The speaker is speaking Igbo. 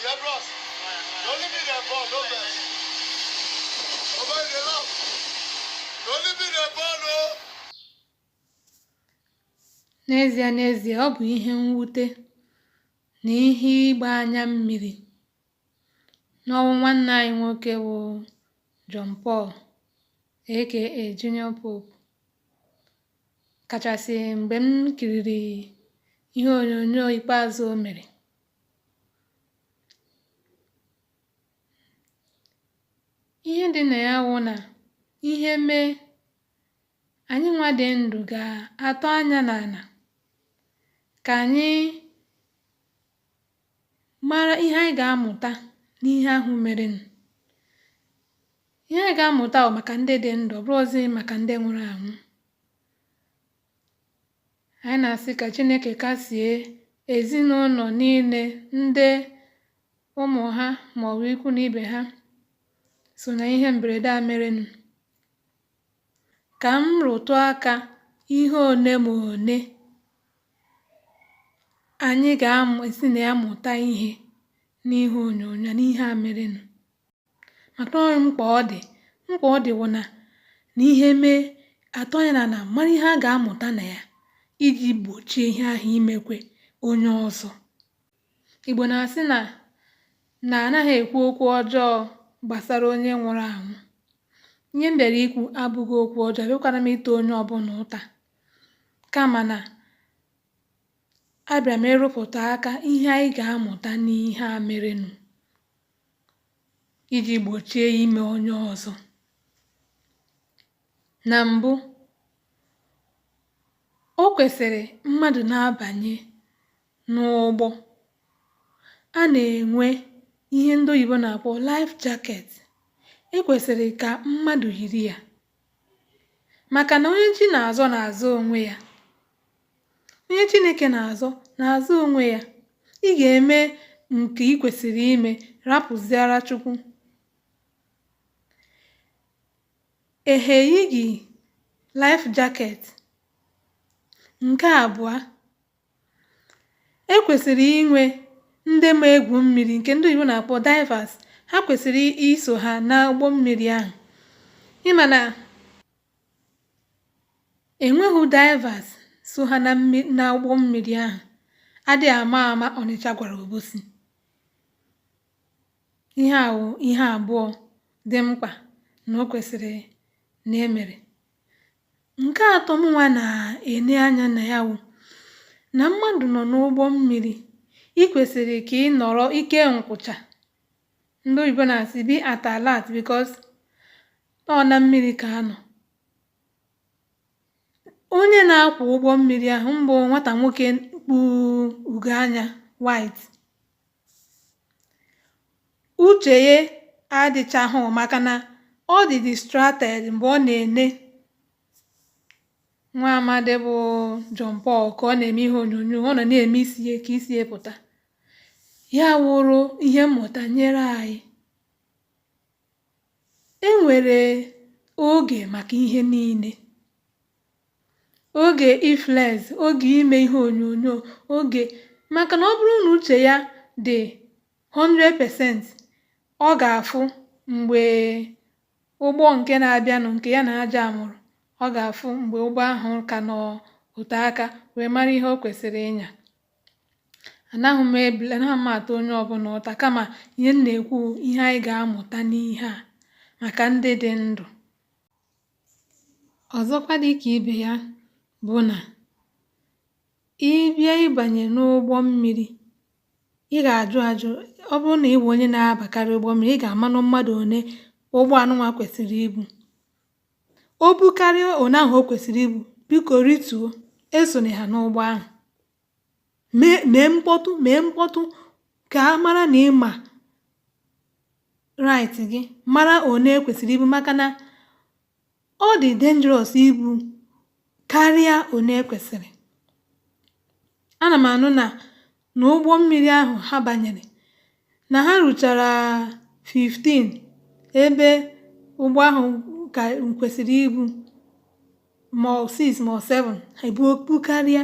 Yeah, bros. Na only me dem born, no vex. Oh, boy, they love. The only thing that ball, no. N'ezie n'ezie, ọ bụ ihe mwute na ihe ịgba anya mmiri n'ọnwụ nwanne anyị nwoke bụ John Paul aka Junior Pope kachasị mgbe m kiriri ihe onyonyo ikpeazụ o mere ihe dị na ya wụ na ihe mee anyị nwa dị ndụ ga-atọ anya n'ala ka anyị mara ihe anyị ga-amụta n'ihe ahụ merenụ ihe anyị ga-amụta bụ maka ndị dị ndụ ọ bụrọzi maka ndị nwụrụ anwụ anyị na-asị ka Chineke kasie ezinụlọ niile ndị ụmụ ha maọbụ ikwu na ibe ha so na ihe mberede a merenụ Ka m rụtụ aka ihe one ma one anyị ga-esi na ya mụta ihe n'ihe onyonyo n'ihe a merenụ. Maka na ọ dị mkpa ọ dị mkpa ọ dị wụ na na ihe mee atọ anya n'ala mara ihe a ga-amụta na ya iji gbochie ihe ahụ imekwe onye ọzọ. Igbo na-asị na na anaghị ekwu okwu ọjọọ gbasara onye nwụrụ anwụ. Ihe m bịara ikwu abụghị okwu ọjọọ, abịakwara m ịta onye ọbụla ụta. Kama na abịara m ịrụpụta aka ihe anyị ga-amụta n'ihe a merenụ iji gbochie ime onye ọzọ. Na mbụ, o kwesịrị mmadụ na-abanye n'ụgbọ. A na-enwe ihe ndị oyibo na-akpọ life jacket. E kwesịrị ka mmadụ yiri ya maka na onye chi na-azọ na-azọ onwe ya. Onye Chineke na-azọ na-azọ onwe ya. Ị ga-eme nke ị kwesịrị ime rapụziara Chukwu. Ehe eyighị life jacket. Nke abụọ, e kwesịrị inwe ndị ma egwu mmiri nke ndị oyibo na-akpọ divers ha kwesịrị iso ha na ụgbọ mmiri ahụ ị ma na enweghị divers so ha na ụgbọ mmiri ahụ adị ama ama Ọnịcha gwara Obosi ihe a ihe abụọ dị mkpa na o kwesịrị na e mere Nke atọ mụnwa na-ene anya na ya wụ na mmadụ nọ n'ụgbọ mmiri ị kwesịrị ka ị nọrọ ike nkwụcha ndị oyibo na-asị be at alert because ọ na mmiri ka a nọ onye na-akwọ ụgbọ mmiri ahụ bụ nwata nwoke kpu ugo anya white uche ya adịchahụ maka na ọ dị distracted mgbe ọ na-ene nwa amadi bụ John Paul ka ọ na-eme ihe onyonyo ọ nọ na-eme isi ya ka isi ya pụta ya wụrụ ihe mmụta nyere anyị e nwere oge maka ihe niile oge iflex oge ime ihe onyonyo oge maka na ọ bụrụ na uche ya dị 100% ọ ga-afụ mgbe ụgbọ nke na-abịanụ nke ya na ya jamụrụ ọ ga-afụ mgbe ụgbọ ahụ ka nọ ote aka wee mara ihe o kwesịrị ịnya anaghị m ebule anaghị m ata onye ọbụla ụta kama ihe m na-ekwu ihe anyị ga-amụta n'ihe a maka ndị dị ndụ Ọzọkwa dị ka ibe ya bụ na ị bịa ịbanye n'ụgbọ mmiri, ị ga-ajụ ajụ ọ bụrụ na ị bụ onye na-abakarị ụgbọ mmiri, ị ga-amanụ mmadụ one ụgbọ anụnwa kwesịrị ibu. O bukarịa one ahụ o kwesịrị ibu, biko rituo, esone ha n'ụgbọ ahụ. Mee mee mkpọtụ mee mkpọtụ ka a mara na ị ma right gị mara one e kwesịrị ibu maka na ọ dị dangerous ibu karịa one e kwesịrị ana m anụ na na ụgbọ mmiri ahụ ha banyere na ha ruchara 15 ebe ụgbọ ahụ ka kwesịrị ibu ma ọ 6 ma ọ 7 ha ebuo karịa